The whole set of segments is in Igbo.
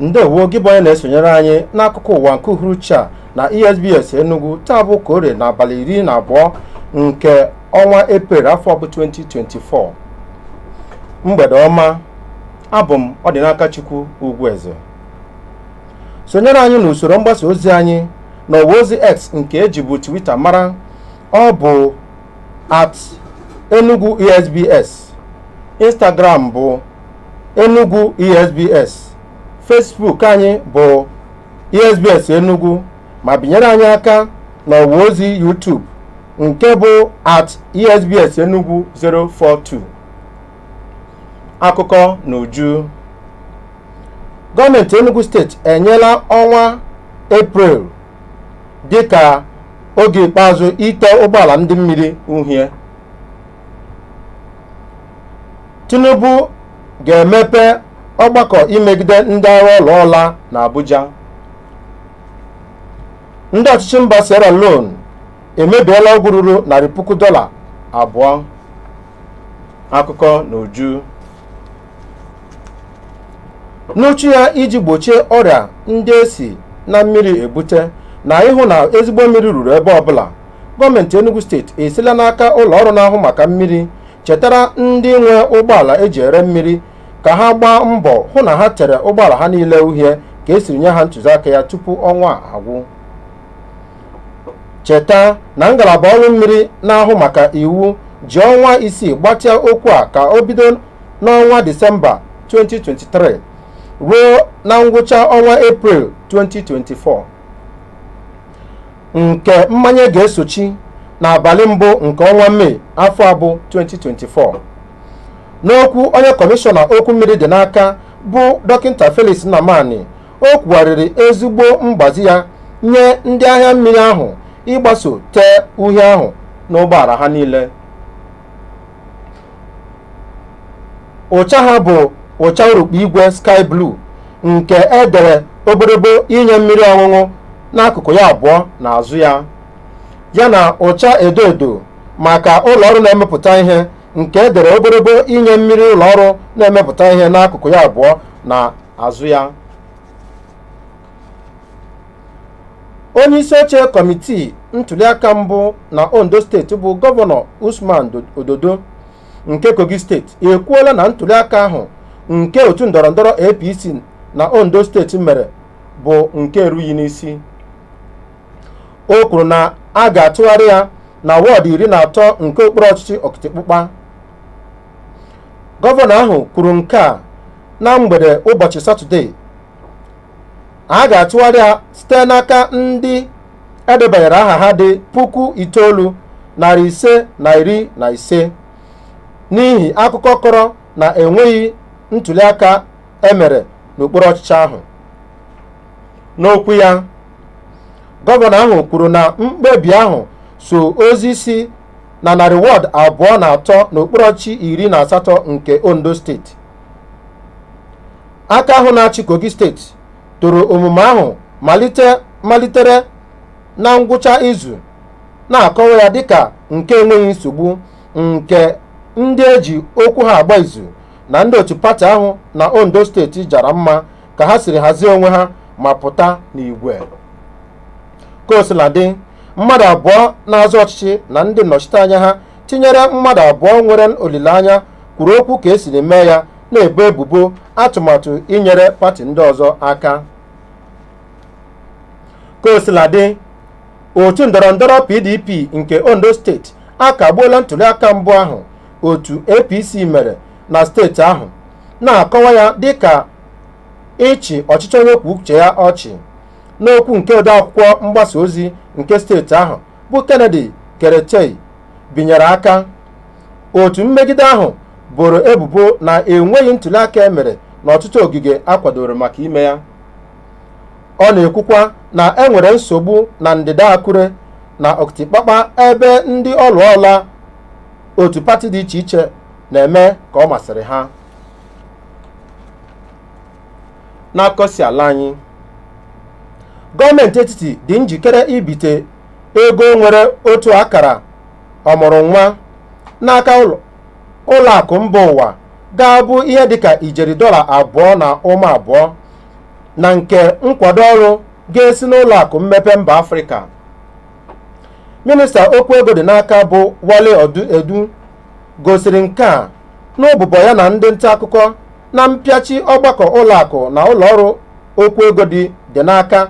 ndewo gị bụ onye na-esonyere anyị n'akụkọ ụwa nke uhuruchi a na esbs enugu taa bụ ka orie n'abalị iri na abụọ nke ọnwa eprel afọ bụ 2024 mgbede ọma abụ m ọdịnakachukwu ugwueze sonyere anyị n'usoro mgbasa ozi anyị n'ọwa ozi x nke e jibu twitter mara ọ bụ at enugu esbs instagram bụ enugu esbs facebook anyị bụ esbs enugu ma binyere anyị aka n'ọwa ozi youtube nke bụ at esbs enugu 042 akụkọ n'uju gọọmenti enugu steeti enyela ọnwa eprel dịka oge ikpeazụ ite ụgbọala ndị mmiri uhie tinubu ga-emepe ọgbakọ imegide ndị agha ụlọ ọla n'abuja ndị ọchịchị mba sierra leone emebiela ọgwụ ruru narị puku dọla abụọ akụkọ n'uju n'uchu ya iji gbochie ọrịa ndị e si na mmiri ebute na ịhụ na ezigbo mmiri ruru ebe ọbụla gọọmenti enugu steeti esila n'aka ụlọ ọrụ na-ahụ maka mmiri chetara ndị nwe ụgbọala e ji ere mmiri ka ha gbaa mbọ hụ na ha tere ụgbọala ha niile uhie ka e siri nye ha ntụziaka ya tupu ọnwa a agwụ cheta na ngalaba ọrụ mmiri na-ahụ maka iwu ji ọnwa isii gbatịa okwu a ka o bido n'ọnwa disemba 2023 ruo na ngwụcha ọnwa eprel 2024 nke mmanye ga-esochi n'abalị mbụ nke ọnwa mee afọ a bụ 2024 n'okwu onye kọmishọna okwu mmiri dị n'aka bụ dọkịta felix nnamani o kwugharịrị ezigbo mgbazi ya nye ndị ahịa mmiri ahụ ịgbaso tee uhie ahụ n'ụgbọala ha niile ụcha ha bụ ụcha urukpu igwe sky blue nke e dere obodobo inye mmiri ọṅụṅụ n'akụkụ ya abụọ na azụ ya ya na ụcha edo edo maka ụlọ ọrụ na-emepụta ihe nke e dere obodobo inye mmiri ụlọ ọrụ na-emepụta ihe n'akụkụ ya abụọ na azụ ya onye isi oche kọmitii ntuliaka mbụ na ondo steeti bụ gọvanọ usman ododo nke kogi steeti ekwuola na ntuliaka ahụ nke otu ndọrọndọrọ apc na ondo steeti mere bụ nke erughị n'isi o kwuru na a ga-atụgharị ya na wọọdụ iri na atọ nke okpuru ọchịchị okitipupa gọvanọ ahụ kwuru nke a na mgbede ụbọchị satọde a ga-atụgharị ya site n'aka ndị edebanyere aha ha dị puku itoolu narị ise na iri na ise n'ihi akụkọ kọrọ na enweghị ntuliaka emere n'okpuru ọchịchị ahụ n'okwu ya gọvanọ ahụ kwuru na mkpebi ahụ so ozi si na narị wọd abụọ na atọ n'okpuru ọchị iri na asatọ nke ondo steeti aka ahụ na-achị kogi steeti toro omume ahụ malite malitere na ngwụcha izu na-akọwa ya dịka nke enweghị nsogbu nke ndị eji okwu ha agba izu na ndị otu pati ahụ na ondo steeti jara mma ka ha siri hazie onwe ha ma pụta n'igwe ka o sila dị mmadụ abụọ na-azọ ọchịchị na ndị nnọchiteanya ha tinyere mmadụ abụọ nwere olileanya kwuru okwu ka e siri mee ya na-ebo ebubo atụmatụ inyere pati ndị ọzọ aka ka o sila dị otu ndọrọ ndọrọ pdp nke ondo steeti akagbuola ntuliaka mbụ ahụ otu apc mere na steeti ahụ na-akọwa ya dịka ịchị ọchịchị onye kwuo uche ya ọchị n'okwu nke odeakwụkwọ mgbasa ozi nke steeti ahụ bụ Kennedy Peretei binyere aka otu mmegide ahụ boro ebubo na enweghị ntuliaka e mere n'ọtụtụ ogige a kwadoro maka ime ya ọ na-ekwukwa na e nwere nsogbu na ndịda Akure na Okitipupa ebe ndị ọlụọla otu pati dị iche iche na-eme ka ọ masịrị ha n'akụkọ si ala anyị gọọmenti etiti dị njikere ibite ego nwere otu akara ọmụrụ nwa n'aka ụlọ ụlọ akụ mba ụwa ga-abụ ihe dịka ijeri dọla abụọ na ụma abụọ na nke nkwado ọrụ ga-esi n'ụlọ akụ mmepe mba afrịka minista okwu ego dị n'aka bụ wale odu edun gosiri nke a n'ụbụbọ ya na ndị nta akụkọ na mpịachi ọgbakọ ụlọakụ na ụlọọrụ okwu ego dị dị n'aka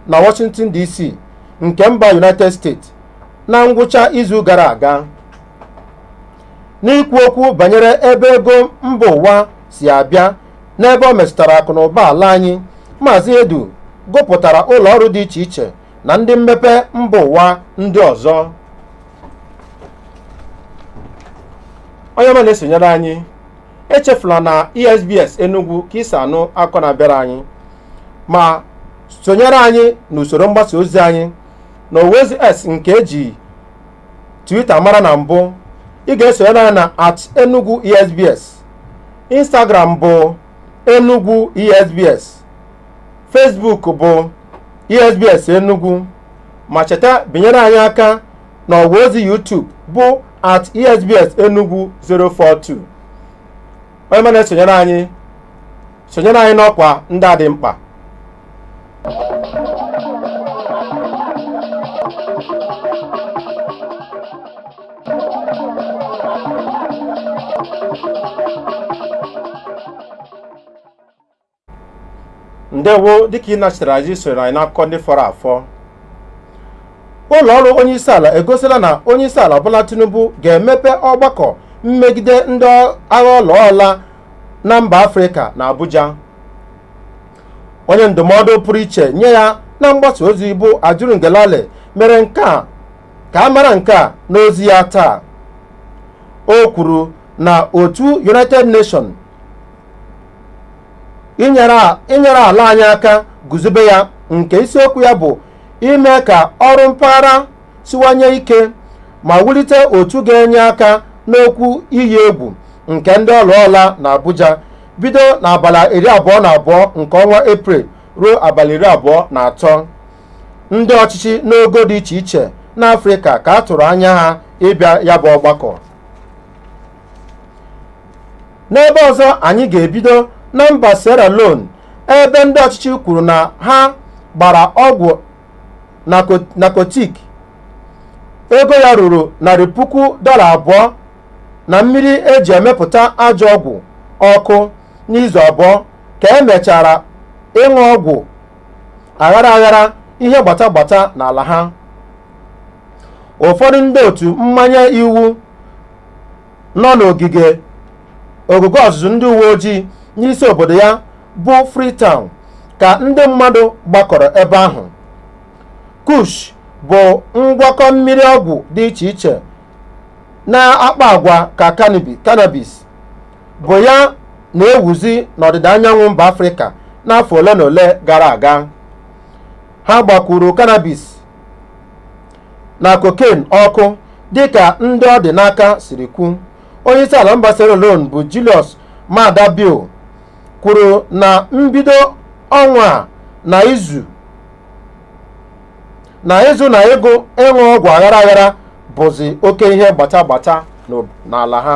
na Washington DC nke mba United States na ngwụcha izu gara aga n'ikwu okwu banyere ebe ego mba ụwa si abịa n'ebe ọ metụtara akụ na ụba ala anyị maazị edun gụpụtara ụlọ ọrụ dị iche iche na ndị mmepe mba ụwa ndị ọzọ onye ọma na-esonyere anyị echefula na esbs enugwu ka i si anụ akụkọ na-abịara anyị ma sonyere anyị n'usoro mgbasa ozi anyị n'ọwa ozi x nke eji twitter mara na mbụ ị ga-esonyere anyị na at enugwu esbs instagram bụ enugwu esbs Facebook bụ ESBS Enugu ma cheta binyere anyị aka na ọwa ozi YouTube bụ at ESBS Enugu 042 onye ọma na-esonyere anyị sonyere anyị n'ọkwa ndị a dị mkpa ndewo dịka ị nachitara anyị sonyere anyị n'akụkọ ndị fọrọ afọ ụlọ ọrụ onyeisiala egosila na onyeisiala Bola Tinubu ga-emepe ọgbakọ mmegide ndị agha ọlaọla na mba Afrịka na Abuja onye ndụmọdụ pụrụ iche nye ya na mgbasa ozi bụ Ajuri Ngelale mere nke a ka a mara nke a n'ozi ya taa o kwuru na otu United Nations nyere ala anyị aka guzobe ya nke isiokwu ya bụ ime ka ọrụ mpaghara siwanye ike ma wulite otu ga-enye aka n'okwu iyi egwu nke ndị ọlụọla na Abuja bido n'abalị iri abụọ na abụọ nke ọnwa Eprel ruo abalị iri abụọ na atọ ndị ọchịchị n'ogo dị iche iche n'Afrịka ka a tụrụ anya ha ịbịa ya bụ ọgbakọ n'ebe ọzọ anyị ga-ebido na mba Sierra Leone ebe ndị ọchịchị kwuru na ha gbara ọgwụ nakotik ego ya ruru narị puku dọla abụọ na mmiri eji emepụta ajọ ọgwụ ọkụ n'izu abụọ ka emechara ịṅụ ọgwụ aghara aghara ihe gbata gbata n'ala ha ụfọdụ ndị otu mmanye iwu nọ n'ogige ọgụgụ ọzụzụ ndị uwe ojii n'isi obodo ya bụ Freetown ka ndị mmadụ gbakọrọ ebe ahụ kush bụ ngwakọ mmiri ọgwụ dị iche iche na-akpa agwa ka cannabis cannabis bụ ya na-ewuzi n'ọdịda anyanwụ mba afrịka n'afọ ole na ole gara aga ha gbakwuru cannabis na cocaine ọkụ dịka ndị ọ dị n'aka siri kwu onyeisi ala mba Sierra Leone bụ Julius Maada Bio kwuru na mbido ọnwa a na ịzụ na ịgụ ịṅụ ọgwụ aghara aghara bụzi oke ihe gbata gbata n'ala ha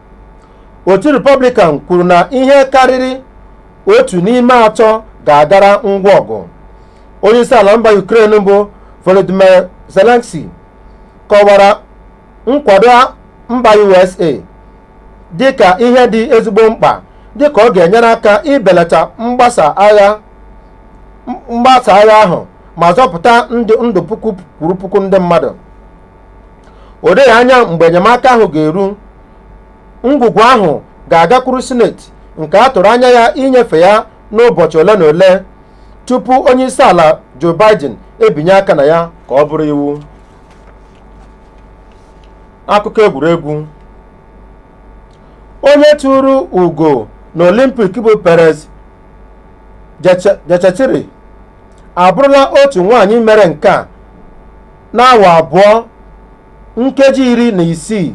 otu Republican kwuru na ihe karịrị otu n'ime atọ ga-agara ngwa ọgụ onyeisi ala mba Ukraine bụ Volodymyr Zelensky kọwara nkwado mba USA dịka ihe dị ezigbo mkpa dịka ọ ga-enyere aka ibelata mgbasa agha ahụ ma zọpụta ndụ puku kwuru puku ndị mmadụ o doghị anya mgbe enyemaka ahụ ga-eru ngwugwu ahụ ga-agakwuru sineti nke a tụrụ anya ya inyefe ya n'ụbọchị ole na ole tupu onye isi ala Joe Biden ebinye aka na ya ka ọ bụrụ iwu akụkọ egwuregwu onye tụrụ ugo na olimpik bụ Peres Jepchirchir abụrụla otu nwaanyị mere nke a n'awa abụọ nkeji iri na isii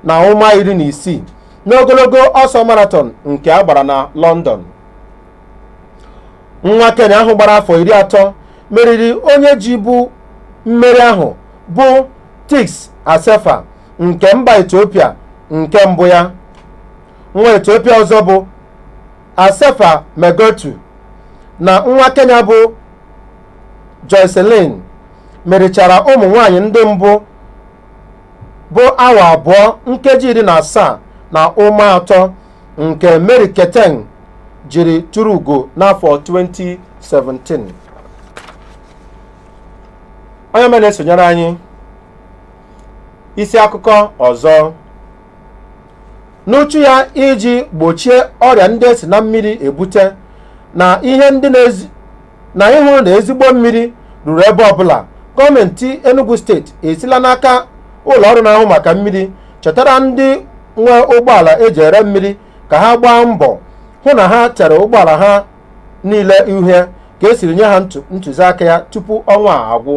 na ụma iri na isii n'ogologo ọsọ marathon nke a gbara na London nwa Kenya ahụ gbara afọ iri atọ meriri onye jibu mmeri ahụ bụ Tigst Assefa nke mba Ethiopia nke mbụ ya nwa Ethiopia ọzọ bụ Assefa Megertu na nwa Kenya bụ Joyciline merichara ụmụ nwanyị ndị mbụ bụ awa abụọ nkeji iri na asaa na ụma atọ nke Mary Keitany jiri tụrụ ugo n'afọ 2017 onye ọma na-esonyere anyị isi akụkọ ọzọ n'uchu ya iji gbochie ọrịa ndị e si na mmiri ebute na ịhụ na ezigbo mmiri ruru ebe ọbụla gọọmenti Enugu steeti esila n'aka ụlọ ọrụ na-ahụ maka mmiri chetara ndị nwe ụgbọala e ji ere mmiri ka ha gbaa mbọ hụ na ha tere ụgbọala ha niile uhie ka e siri nye ha ntụziaka ya tupu ọnwa a agwụ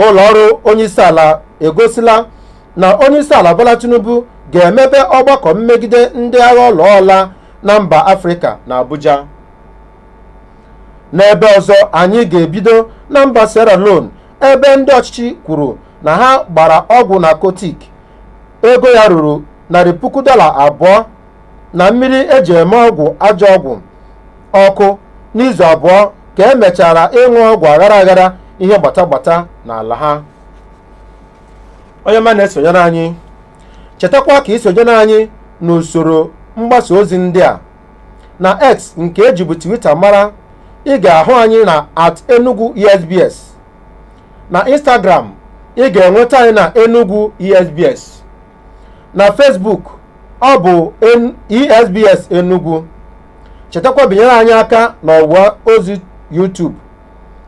ụlọ ọrụ onyeisiala egosila na onyeisiala Bola Tinubu ga-emepe ọgbakọ mmegide ndị agha ọlụọ ọlaa na mba Afrịka na Abuja n'ebe ọzọ anyị ga-ebido na mba Sierra Leone ebe ndị ọchịchị kwuru na ha gbara ọgwụ narcotic ego ya ruru narị puku dọla abụọ na mmiri e ji eme ọgwụ ajọ ọgwụ ọkụ n'izu abụọ ka e mechara ịṅụ ọgwụ aghara aghara ihe gbata gbata n'ala ha onye ọma na-esonyere anyị chetakwa ka i sonyere anyị n'usoro mgbasa ozi ndị a na x nke e jibu twitter mara ị ga-ahụ anyị na at enugu esbs na instagram ị ga-enweta anyị na enugu esbs na Facebook ọ bụ N- ESBS Enugu chetakwa binyere anyị aka n'ọwa ozi YouTube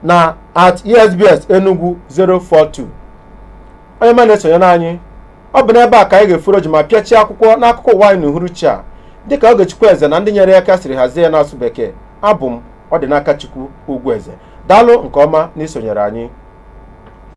na at ESBS Enugu 042 onye ọma na-esonyere anyị ọ bụ n'ebe a ka anyị ga-efuro oji ma pịachie akwụkwọ n'akụkọ ụwa anyị n'uhuruchi a dịka Ogechukwu Eze na ndị nyere ya aka siri hazie ya n'asụ bekee abụ m Ọdịnakachukwu Ugwueze daalụ nke ọma n'isonyere anyị